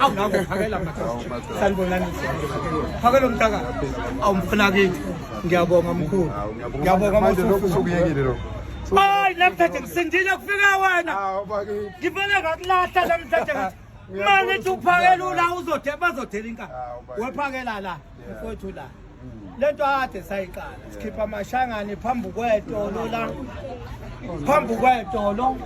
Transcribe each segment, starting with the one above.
awunako phakela sanibonani phakela umntaka awumfuna kithi ngiyabonga mkhulu ngiyabonga mkhuluukuyekile lo hayi namhlanje ngisindile kufika wena ngivele ngakulahla namhlanje manje uphakela ula uzodela bazodela inkani wephakela la mfowethu la lento ade sayiqala sikhipha amashangane phambi kwetolo la phambi kwetolo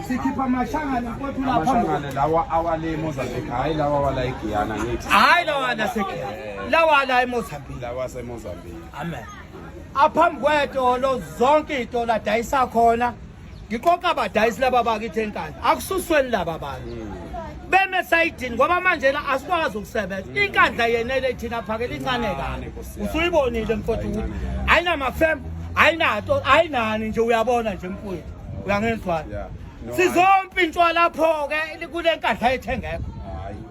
sikhipha amashangane mfowethu la phambi amashangane lawa awale Mozambique hayi lawa wala eGuyana ngithi hayi lawa la seGuyana eh. lawa la eMozambique lawa seMozambique amen aphambi kwetolo zonke itolo adayisa khona ngiqoqa abadayisi laba bakithi enkandla akususweni laba bantu beme sayidini ngoba manje la asikwazi ukusebenza mm. inkandla yenele thina phakela incane kane usuyibonile mfowethu ukuthi ayinamafem ayinato ayinani nje uyabona nje mfowethu uyangenzwana sizompintshwa lapho-ke kule nkandla yethu engekho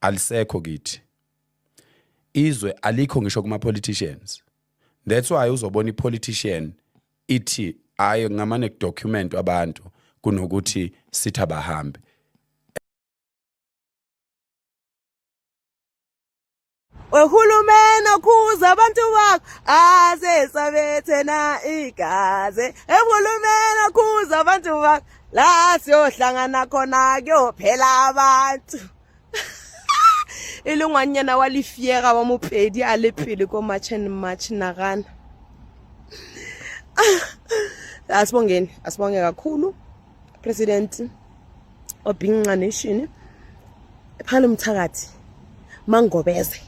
alisekho kithi izwe alikho ngisho kuma politicians that's why uzobona ipolitician ithi hayi ngamane kudocument abantu kunokuthi sithi abahambe Ohulumeni okhuza abantu bakho asesabethena igazi. Ehulumeni okhuza abantu bakho la siyohlangana khona kuyophela abantu. e le ngwanyana wa lefiega wa mopedi a le pele ko march and march nagana asibongeni asibonge kakhulu president obhinqa nation phala umthakathi mangobeze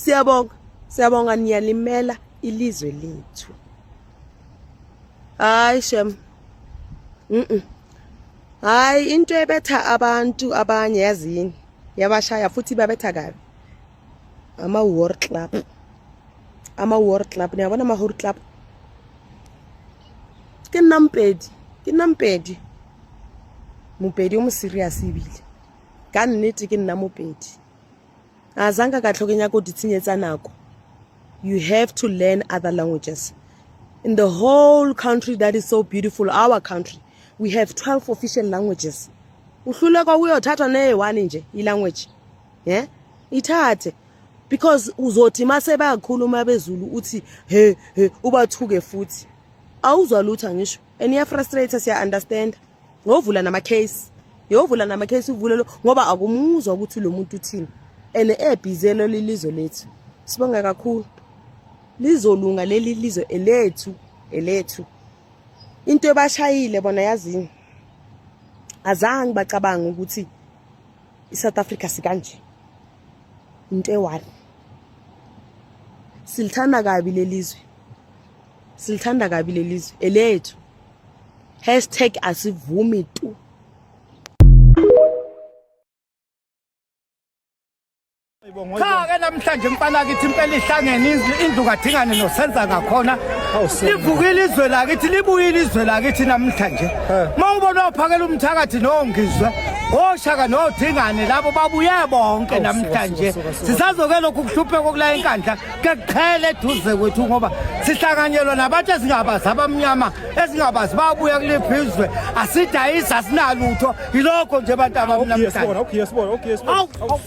siyabonga siyabonga niyalimela ilizwe lethu hayi shem mhm hayi into ebetha abantu abanye yazini yabashaya futhi babetha kabi ama war club ama war club ne bona ma war club ke nampedi ke nampedi mopedi o mo serious ebile ka nnete ke nna mopedi a zanka ka tlhokeng ya ko di tshenyetsa nako you have to learn other languages in the whole country that is so beautiful our country we have 12 official languages uhluleka uyothathwa neye one nje ilanguage yeah ithathe because uzothi mase bayakhuluma bezulu uthi he he ubathuke futhi awuzwa lutho ngisho and iya frustrate siya understand ngovula nama case yovula nama case uvule lo ngoba akumuzwa ukuthi lo muntu uthini and ebhizelo lilizwe lethu sibonga kakhulu lizolunga leli lizwe elethu elethu into ebashayile bona yazini azange bacabanga ukuthi I-South Africa sikanje into eyi-one silithanda kabi lelizwe silithanda kabi lelizwe elethu hashtag asivumi tu Cha ke namhlanje mfana kithi impela ihlangene indlu kaDingane nosenza ngakhona livukile izwe lakithi libuyile izwe lakithi namhlanje mawubona uphakela umthakathi nongizwe oshaka nodingane labo babuye bonke namhlanje sisazoke lokhu kuhlupheka okula enkandla kekuqhele eduze kwethu ngoba sihlanganyelwa nabantu esingabazi abamnyama esingabazi babuya kuliphi izwe asidayisi asinalutho yilokho nje abantu abamnamhlanje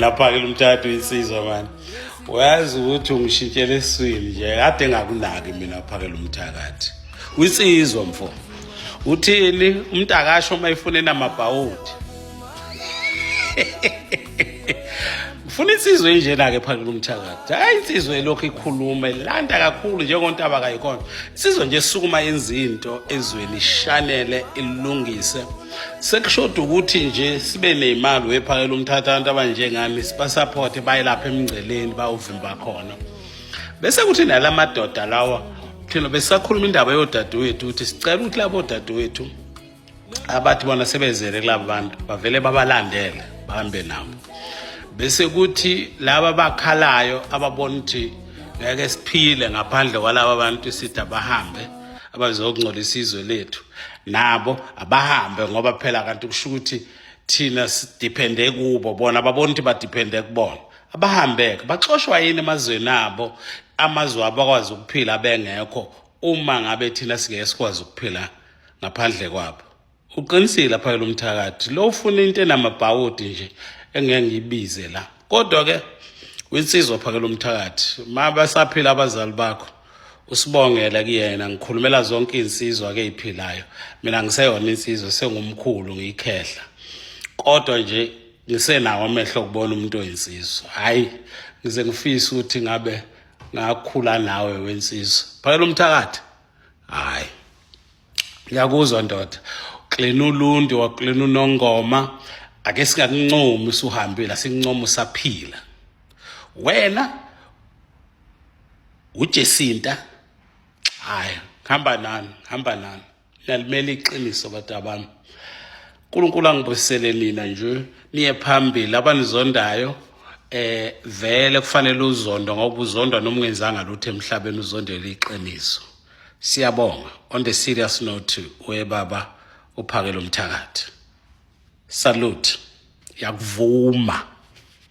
Lapha-ke lo mthathu insizwa mani uyazi ukuthi ungishintshela eswini nje kade ngakunaki mina phake lo mthakathi wisizwa mfo uthini umntakasho uma efune namabhawudi ngifuna insizwe enjena-ke phake lo mthakathi hhayi insizwe elokhu ikhulume landa kakhulu njengontaba kayikhona insizwe nje esukuma yenza into ezweni ishanele ilungise sekushoda ukuthi nje sibe ney'mali wephakela umthatha abantu abanjengami sibasaphothe bayelapha emngceleni bawuvimba khona bese kuthi nala madoda lawa thina besisakhuluma indaba yodadewethu ukuthi sicela ukuthi labo dadewethu abathi bona sebezele kulabo bantu bavele babalandele bahambe nabo bese kuthi laba bakhalayo ababona ukuthi ngeke siphile ngaphandle kwalaba bantu sithi abahambe abazokungcolisa izwe lethu nabo abahambe ngoba phela kanti kusho ukuthi thina sidiphende kubo bona babona ukuthi badiphende kubona abahambeke baxoshwa yini emazweni abo amazwe abo akwazi ukuphila bengekho uma ngabe thina singeke sikwazi ukuphila ngaphandle kwabo uqinisile apha lo mthakathi lo ufuna into enamabhawudi nje engeke ngiyibize la kodwa-ke winsizwa phakela umthakathi ma basaphila abazali bakho usibongela kuyena ngikhulumela zonke izinsizwa ke iphilayo mina ngiseyona insizwa sengumkhulu ngiyikhehla kodwa nje ngisenawo amehlo kubona umuntu oyinsizwa hayi ngize ngifise ukuthi ngabe ngakhula nawe wensizwa phakela umthakathi hayi ngiyakuzwa ndoda uklina uluntu waklina unongoma ake singakuncomi usuhambile asincoma usaphila wena uJesinta haya hamba nami hamba nami nalimele iqiniso bantu abami uNkulunkulu angibusele nina nje niye phambili abanizondayo eh vele kufanele uzondo ngoba uzondwa noma ungenzanga lutho emhlabeni uzondela iqiniso siyabonga on the serious note we baba uphakela umthakathi salute yakuvuma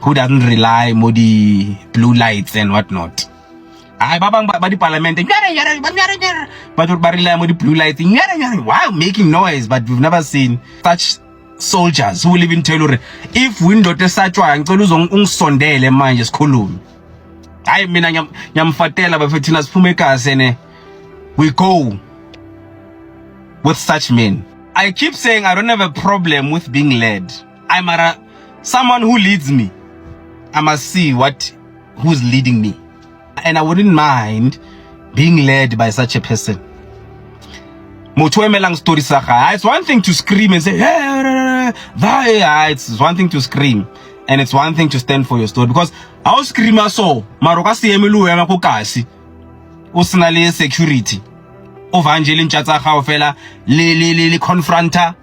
who doesn't rely mo di blue lights and what not hayi ba bang ba dipalamente batho ba rely mo di-blue lights wow making noise but we've never seen such soldiers who will even tell uri if windoda esatshwayo ngicela uzongisondele manje sikhulume hayi mina ngiyamfatela bafethu thina siphume egazi ene we go with such men i keep saying i don't have a problem with being led I mara someone who leads me I must see what who's leading me and I wouldn't mind being led by such a person motho emelang story sa ga it's one thing to scream and say hey, hey, it's one thing to scream and it's one thing to stand for your story because how screamer so maro ka se eme lo ema ko kasi o sna le security o vangele ntša tsa gago fela le le le confronter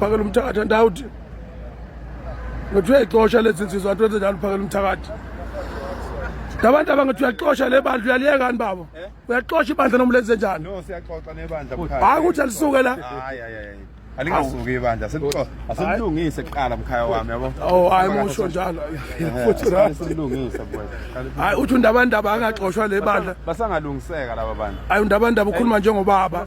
phakela umthakathi andawuthi ngathiwa ixosha lezi nsizwa anti wenze njalo phakela umthakathi labantu abangathi uyaxosha le bandla uyaliyekani babo eh? uyaxosha ibandla noma lenze njani hayi ukuthi alisuke la alingasuki ibandla asilungise kuqala mkhaya wami yabo oh hayi musho njalo futhi asilungise hayi uthi undabandaba angaxoshwa le bandla basangalungiseka laba bantu hayi undabandaba ukhuluma njengobaba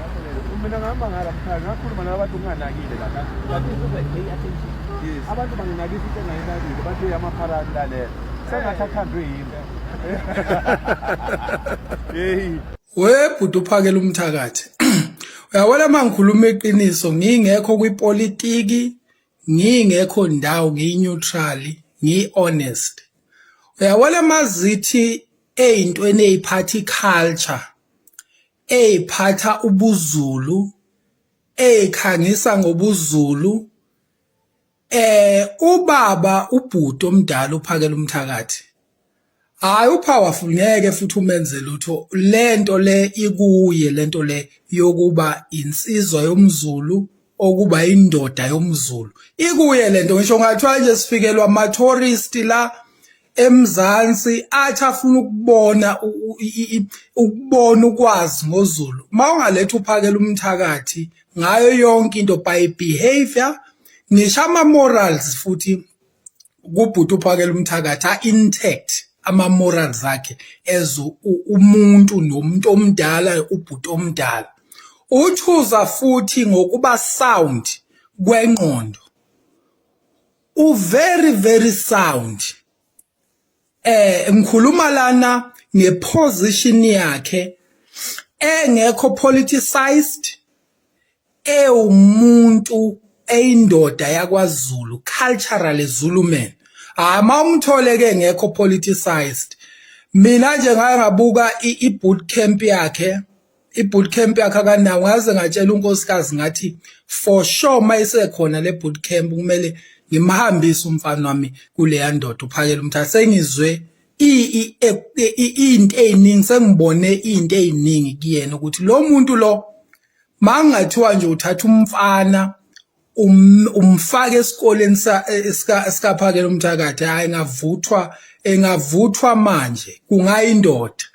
mina ngihamba ngala mkhaya ngakhuluma nabantu nginganakile lana abantu banginakisa into engayinakile bathi amapharani lalela sengathi athandwe yimi yeyi webhuti uphakela umthakathi uyabona uma ngikhuluma iqiniso ngingekho kwipolitiki ngingekho ndawo ngiyi-neutrally ngiyi-honest uyabona uma zithi ey'ntweni ey'phatha i-culture Ey phatha ubuzulu. Ey khangisa ngobuzulu. Eh ubaba ubhuti omdala uphakela umthakathi. Hayi upowerful ngeke futhi umenze lutho lento le ikuye lento le yokuba insizwa yomzulu okuba indoda yomZulu ikuye lento ngisho ngathiwa nje sifikelwa ama tourist la eMzansi athi afuna ukubona ukubona ukwazi ngoZulu mawungaletha uphakela umthakathi ngayo yonke into by behavior ngisho ama morals futhi kubhuti uphakela umthakathi a-intact ama-moral zakhe as umuntu nomuntu omdala ubhuti omdala utshuza futhi ngokuba sound kwengqondo u-very very sound eh ngikhuluma lana ngeposition yakhe engekho politicized ewumuntu eyindoda yakwaZulu culturally Zulu man hayi mawumthole ke ngekho politicized mina nje ngaye ngabuka i boot camp yakhe i-boot camp yakhe akanawo ngaze ngatshela unkosikazi ngathi for sure uma isekhona le boot camp kumele ngimhambise umfana wami kuleya ndoda uphakela umthatha sengizwe into ey'ningi sengibone iy'nto ey'ningi kuyena ukuthi lo muntu lo mangathiwa nje uthatha umfana um, umfake esikoleni e, sikaphakela umthakathi hayi ngavuthwa engavuthwa manje kungayindoda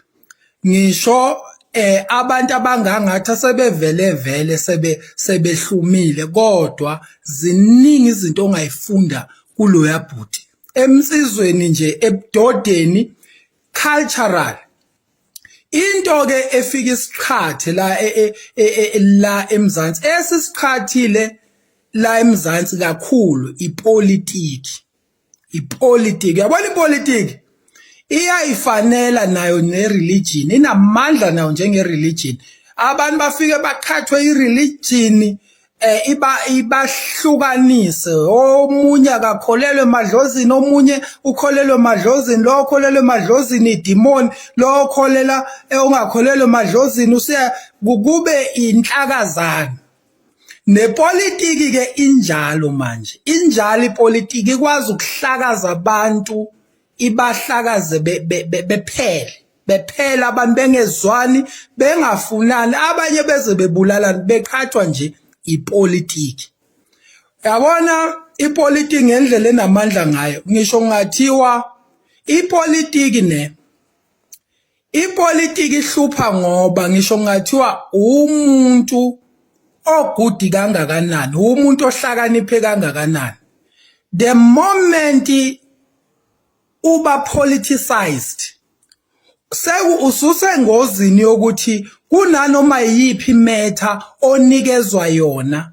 ngisho eh abantu abangangathi sebevele vele sebe sebehlumile kodwa ziningi izinto ongayifunda kuloya bhuti emsizweni nje ebudodeni cultural into ke efika isiqhathe la e, e, e, la eMzansi esisiqhathile la eMzansi kakhulu ipolitiki ipolitiki yabona ipolitiki iyayifanela nayo nereligion inamandla nayo njengereligion abantu bafike baqhathwe ireligion eh iba ibahlukanise omunye akakholelwe emadlozini omunye ukholelwe emadlozini lo okholelwe emadlozini idemon lo okholela eh, ongakholelwe emadlozini usiya kube inhlakazana nepolitiki ke injalo manje injalo ipolitiki ikwazi ukuhlakaza abantu ibahlakaze bephele bephela abantu bengezwani bengafunani abanye beze bebulalani beqhathwa nje ipolitiki yabona ipolitiki ngendlela enamandla ngayo ngisho ngathiwa ipolitiki ne Ipolitiki ihlupha ngoba ngisho ngathiwa umuntu ogudi kangakanani, umuntu ohlakaniphe kangakanani. The moment uba politicized seku ususengozini yokuthi kunanoma yiphi imetha onikezwa yona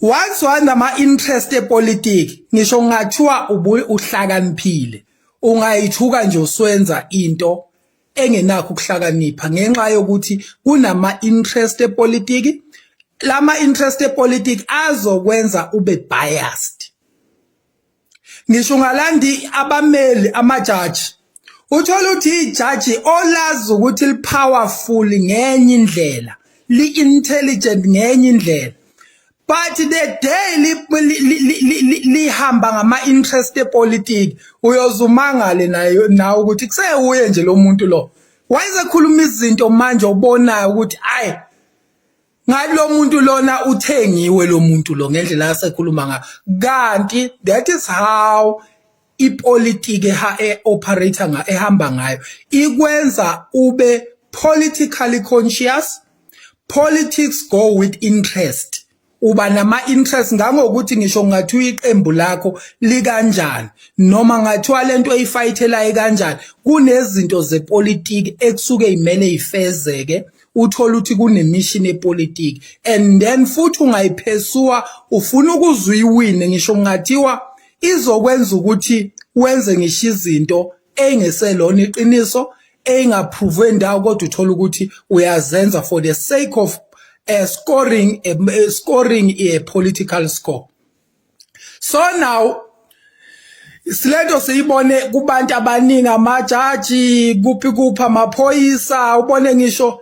once wanama interest epolitiki ngisho ungathiwa uhlakaniphile ungayithuka nje uswenza into engenakho ukuhlakanipha ngenxa yokuthi kunama interest epolitiki lama interest epolitiki azokwenza ube biased ngisho ungalandi abameli amajaji uthola ukuthi ijaji olazi ukuthi lipowerful ngenye indlela li-intelligent ngenye indlela but the day lihamba ngama-interest epolitiki uyozumangale nayo nawe ukuthi kusewuye nje lo muntu lo wayesekhuluma izinto manje obonayo ukuthi ayi ngalo muntu lona uthengiwe lo muntu lo ngendlela asekhuluma ngayo kanti that is how ipolitiki ha e operator nga ehamba ngayo ikwenza ube politically conscious politics go with interest uba nama interest ngangokuthi ngisho ngathi uyiqembu lakho likanjani noma ngathiwa lento oyifayithelayo kanjani kunezinto zepolitiki ekusuke imele ifezeke uthola ukuthi kunemishini epolitiki and then futhi ungayiphesua ufuna ukuzwa iwine ngisho kungathiwa izokwenza ukuthi wenze ngisho izinto engeselona iqiniso engaphrovwe ndawo kodwa uthola ukuthi uyazenza for the sake of uh, scoring a, eh, scoring a political score so now silento siyibone kubantu abaningi amajaji kuphi kuphi amaphoyisa ubone ngisho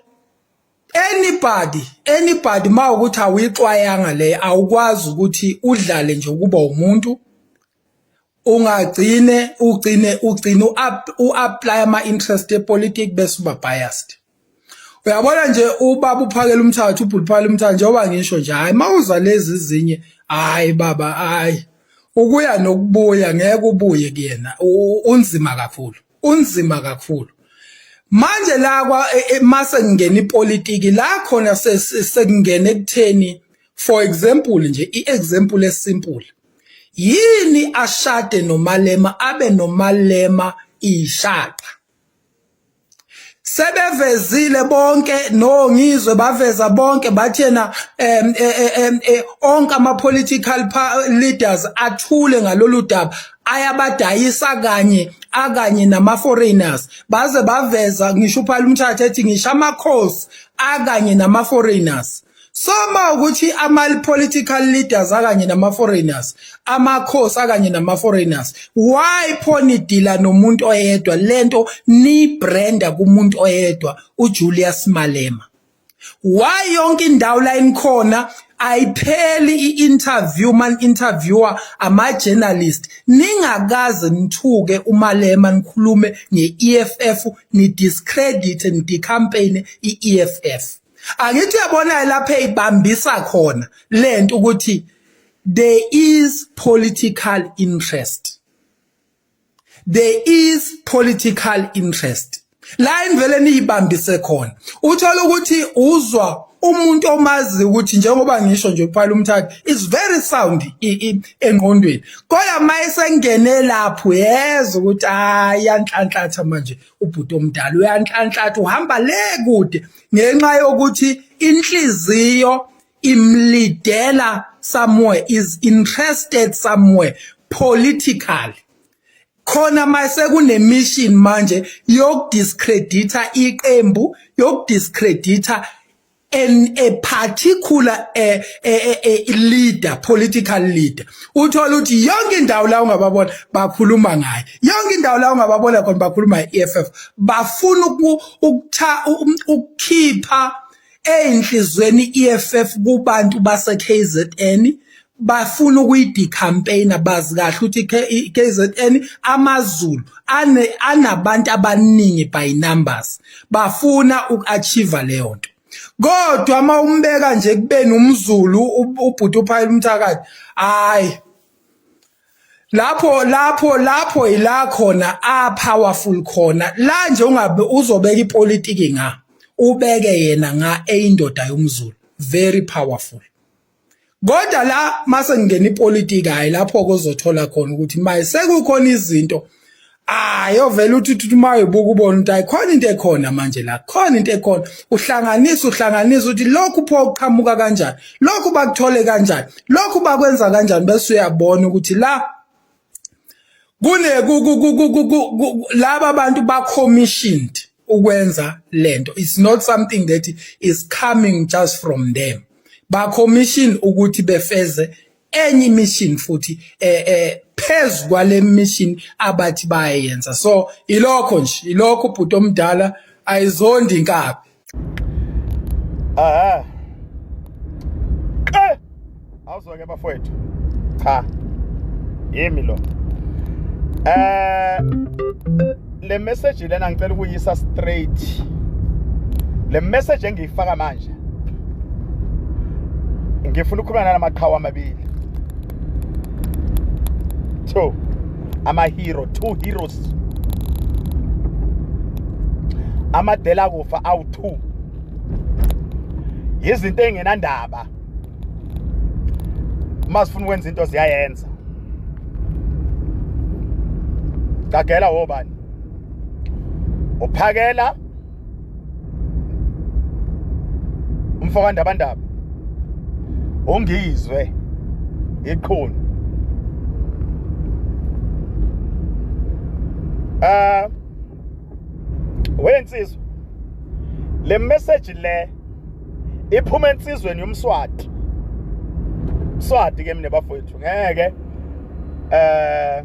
anybody anybody ma ukuthi awuyixwayanga le awukwazi ukuthi udlale nje ukuba umuntu ungagcine ugcine ugcine u-apply ama-interest epolitiki bese uba biased uyabona nje ubaba uphakela umthathu ubhuti uphakela umthathu njengoba ngisho nje hhayi uma uza lezi zinye hhayi baba hhayi ukuya nokubuya ngeke ubuye kuyena unzima kakhulu unzima kakhulu manje la kwa e, e, mase kungena ipolitiki la khona sekungena ekutheni for example nje i-example esimple yini ashade nomalema abe nomalema ishaqa sebevezile bonke no ngizwe baveza bonke bathi yena em e, e, e, onke ama political leaders athule ngalolu daba ayabadayisa kanye akanye nama foreigners baze baveza ngisho uphala umthatha ethi ngisha amakhosi akanye nama foreigners soma ukuthi ama political leaders akanye nama foreigners amakhosi akanye nama foreigners why phoni dealer nomuntu oyedwa lento ni branda kumuntu oyedwa uJulius Malema why yonke indawo la inikhona ayipheli i-interview man interviewer ama-journalist ningakaze nithuke umalema nikhulume nge-eff ni-discredit ni-decampaign i-eff angithi uyabona lapha eyibambisa khona lento ukuthi there is political interest there is political interest la imvele niyibambise khona uthola ukuthi uzwa umuntu omazi ukuthi njengoba ngisho nje kuphela umthatha is very sound engqondweni kodwa maye sengene lapho yeza ukuthi ayanhlanhlatha manje ubhuti omdala uyanhlanhlatha uhamba le kude ngenxa yokuthi inhliziyo imlidela somewhere is interested somewhere politically khona mase kunemission manje yokudiscredita iqembu yokudiscredita and a particular a, a, a, a leader political leader uthola ukuthi yonke indawo la ungababona bakhuluma ngaye yonke indawo la ungababona khona bakhuluma ngeEFF bafuna ukutha um, ukukhipha einhlizweni iEFF kubantu base KZN bafuna ukuyidikhampeyina bazi kahle ukuthi KZN amaZulu ane anabantu abaningi by numbers bafuna ukuachieve leyo nto kodwa uma umbeka nje kubeni umZulu ubhuti uphayela umthakathi hayi lapho lapho lapho ila khona a powerful khona la nje ungabe uzobeka ipolitiki nga ubeke yena nga eyindoda yomZulu very powerful kodwa la mase ngingena ipolitiki hayi lapho kozothola khona ukuthi maye sekukhona izinto hayi ovela uthi uthi uma ubuka ubona ukuthi ayikhona into ekhona manje la khona into ekhona uhlanganisa uhlanganisa ukuthi lokhu pho uqhamuka kanjani lokhu bakuthole kanjani lokhu bakwenza kanjani bese uyabona ukuthi la kune laba bantu ba commissioned ukwenza lento it's not something that is coming just from them ba commission ukuthi befeze enye mission futhi eh eh phezu kwale mission abathi bayenza so ilokho nje ilokho ubhuti omdala ayizondi inkabi Aha. Eh! Awuzwa ke bafowethu. Cha. Yimi lo. Eh le message lena ngicela ukuyisa straight. Le message engiyifaka manje. Ngifuna ukukhuluma namaqhawe amabili. 2 amahero two heroes amadela kufa awu-two yizinto ey'ngenandaba uma zifuna ukwenza into ziyayenza gagela wobani uphakela umfokandabandaba ongizwe iqhuni ah wensizwa le message le iphuma ensizweni yomswati swati ke mina bafowethu ngeke eh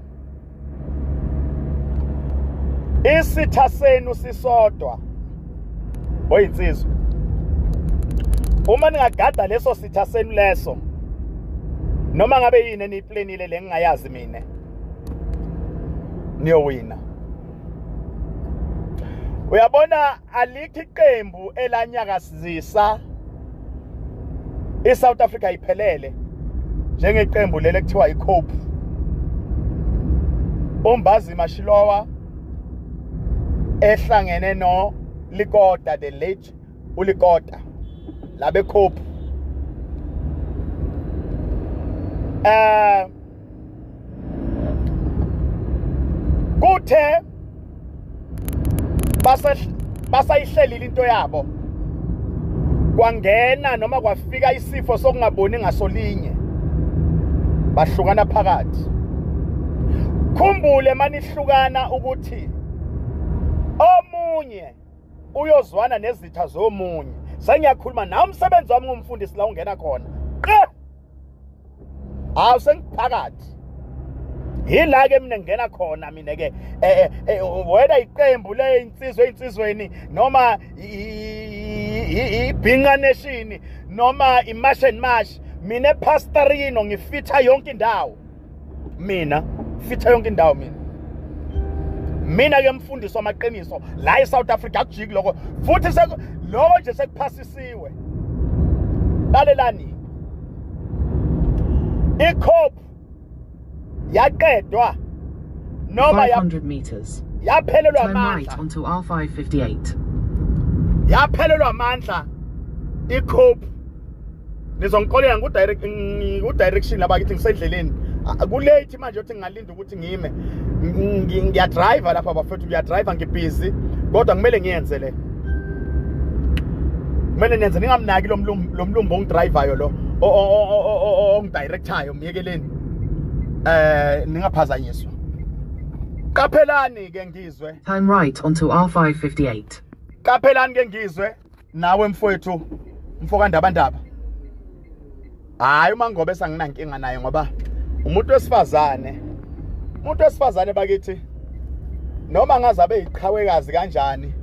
isitha senu sisodwa oyinsizwa uma ningagada leso sitha senu leso noma ngabe yini eniyiplanile lengingayazi mina niyowina uyabona alikho iqembu elanyakazisa iSouth Africa iphelele njengeqembu leli ekuthiwa iCope uMbazi Mashilowa ehlangene no Likota the late uLikota labe Cope eh kuthe basayihlelile into yabo kwangena noma kwafika isifo sokungaboni ngasolinye bahlukana phakathi khumbule manihlukana ukuthi omunye uyozwana nezitha zomunye sengiyakhuluma nawe umsebenzi wami ngumfundisi la ungena khona hawu sengiphakathi yila ke mina ngena khona mina ke eh, eh, eh, whether iqembu le insizwe insizweni noma ibhinqa nation noma imash and mash mina pastorino ngifitha yonke indawo mina fitha yonke indawo mina mina ke mfundisi wamaqiniso la eSouth Africa akujiki lokho futhi lokho nje sekuphasisiwe lalelani ikhop yaqedwa noma 500 meters yaphelelwa amandla right onto R558 yaphelelwa amandla ikhop nizongixolela ngiku-direction laba kithi ngisendleleni kulate manje othi ngingalinda ukuthi ngime ngiyadriva lapha bafethu ngiyadriva ngibhizi kodwa kumele ngiyenze le kumele nenze ningamnaki lo mlumbo ongidrivayo lo ongidirecthayo myekeleni eh ningaphazanyiswa qaphelani ke ngizwe time right onto r558 qaphelani ke ngizwe nawe mfowethu mfokandabandaba hayi uma ngobe sanginankinga naye ngoba umuntu wesifazane umuntu wesifazane bakithi noma ngaze abe yiqhawekazi kanjani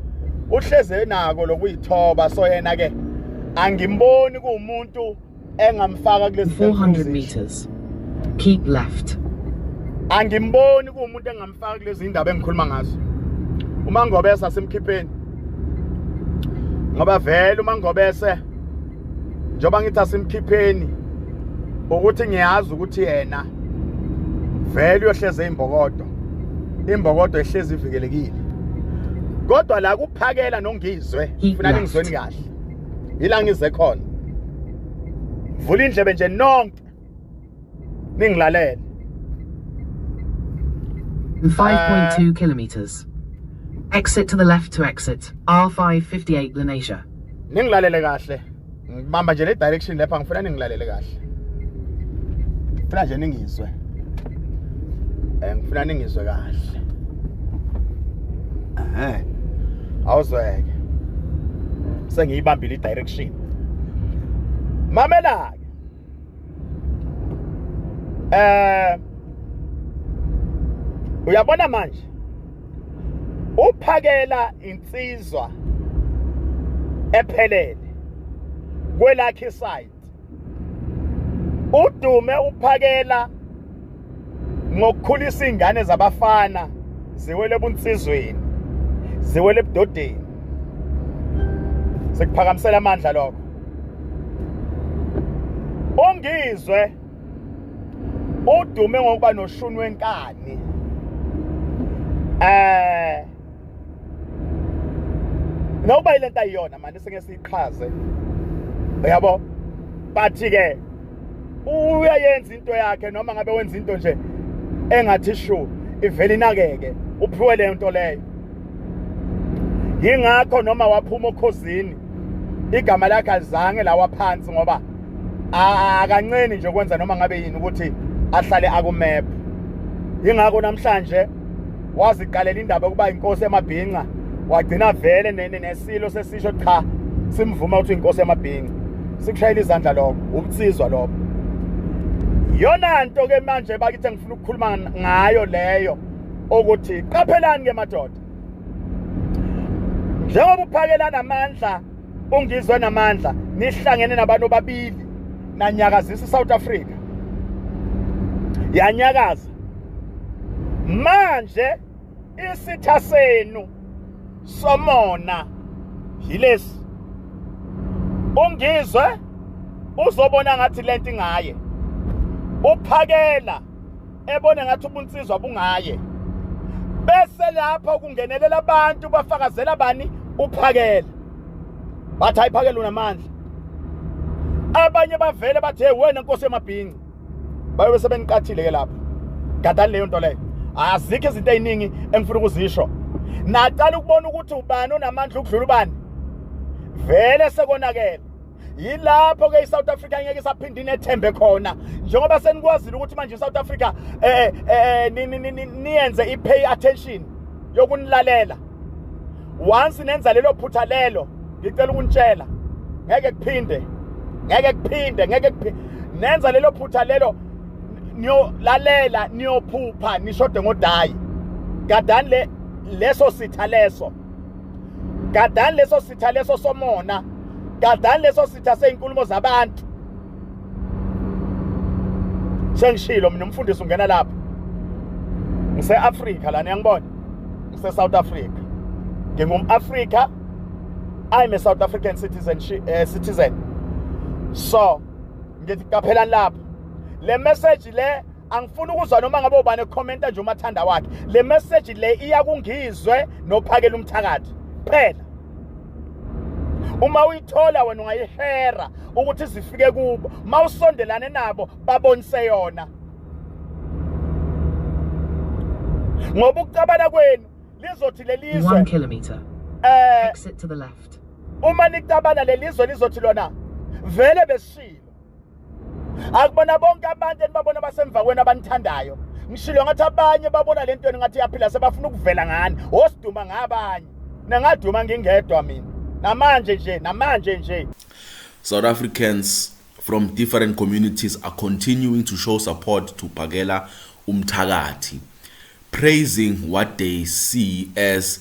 uhleze nako lokuyithoba so yena ke angimboni kuwumuntu engamfaka kulesi 400 meters keep left angimboni kuwumuntu engamfaka kulezi indaba engikhuluma ngazo uma ngobesa simkhipheni ngoba vele uma ngobese njengoba ngithi asimkhipheni ukuthi ngiyazi ukuthi yena vele uyohleze imbokodo imbokodo ehlezi ivikelekile kodwa la kuphakela nongizwe ngifuna ningizweni kahle yila ngize khona vula indlebe nje nonke ningilalele 5.2 uh, kilometers exit to the left to exit R558 Lenasia ningilalele kahle ngibamba nje le direction lapha ngifuna ningilalele kahle ngifuna nje ningizwe um ngifuna ningizwe kahle um awuzweke sengiyibambile i-direction mamela-ke eh uyabona manje uphakela insizwa ephelele kwelakhe side udume uphakela ngokukhulisa ingane zabafana ziwele ebunsizweni ziwele ebudodeni sekuphakamisela amandla lokho ongizwe udume ngokuba noshuni wenkani eh Ngoba ilento ayiyona manje singeke siyiqhaze. Uyabo? But ke uyayenza into yakhe noma ngabe wenza into nje engathi shu ivele inakeke uphiwe le nto leyo yingakho noma waphuma okhozini igama lakhe alizange lawa phansi ngoba akanceni nje ukwenza noma ngabe yini ukuthi ahlale akumepha yingakho namhlanje waziqalela indaba yokuba inkosi yamabhinca wagcina vele nesilo sesisho cha simvuma ukuthi inkosi yamabhinca sikushayela izandla lokho ubutsizwa lokho yona nto ke manje bakithi ngifuna ukukhuluma ngayo leyo ukuthi qaphelani ke madoda njengoba uphakelana amandla ungizwe namandla nihlangene nabantu babili nanyakazisa iSouth Africa yanyakaza manje isitha senu somona yilesi ungizwe uzobona ngathi lento ingaye uphakela ebona ngathi ubunsizwa bungaye bese lapho kungenelela abantu bafakazela bani uphakela bathi ayiphakela unamandla abanye bavele bathi hey wena nkosi yamabhinci bayobe sebeniqathile ke lapho gadani leyo nto leyo azikho izinto eziningi engifuna ukuzisho naqala ukubona ukuthi ubani onamandla ukudlula ubani vele sekonakele yilapho ke iSouth Africa ngeke isaphinde inethembe khona njengoba senikwazile ukuthi manje iSouth Africa eh eh niyenze ipay attention yokunilalela once nenza lelo phutha lelo ngicela ukunitshela ngeke kuphinde ngeke kuphinde ngeke kuphinde nenza lelo phutha lelo niyolalela niyophupha nishode ngodayi gadani le leso sitha leso gadani leso sitha leso somona gadani leso sitha sey'nkulumo zabantu sengishilo mina umfundisi ungena lapha ngise-afrika lana yangibona ngise-south africa ngingum-afrika i'm a south african citizen, uh, citizen. so ngithi qaphelani lapho le message le angifuni ukuzwa noma ngabe ubani ekhomenta nje umathanda wakhe le message le iya kungizwe nophakela umthakathi phela uma uyithola wena ungayishera ukuthi zifike kubo mawusondelane nabo babonise yona ngoba ukucabana kwenu lizothi lelizwe 1 kilometer eh exit to the left uma nicabana lelizwe lizothi lona vele besishilo akubona bonke abantu enibabona basemva kwenu abanithandayo ngishilo ngathi abanye babona le ntweni ngathi yaphila sebafuna ukuvela ngani osiduma ngabanye nengaduma ngingedwa mina namanje nje namanje nje South Africans from different communities are continuing to show support to Pakela umthakathi praising what they see as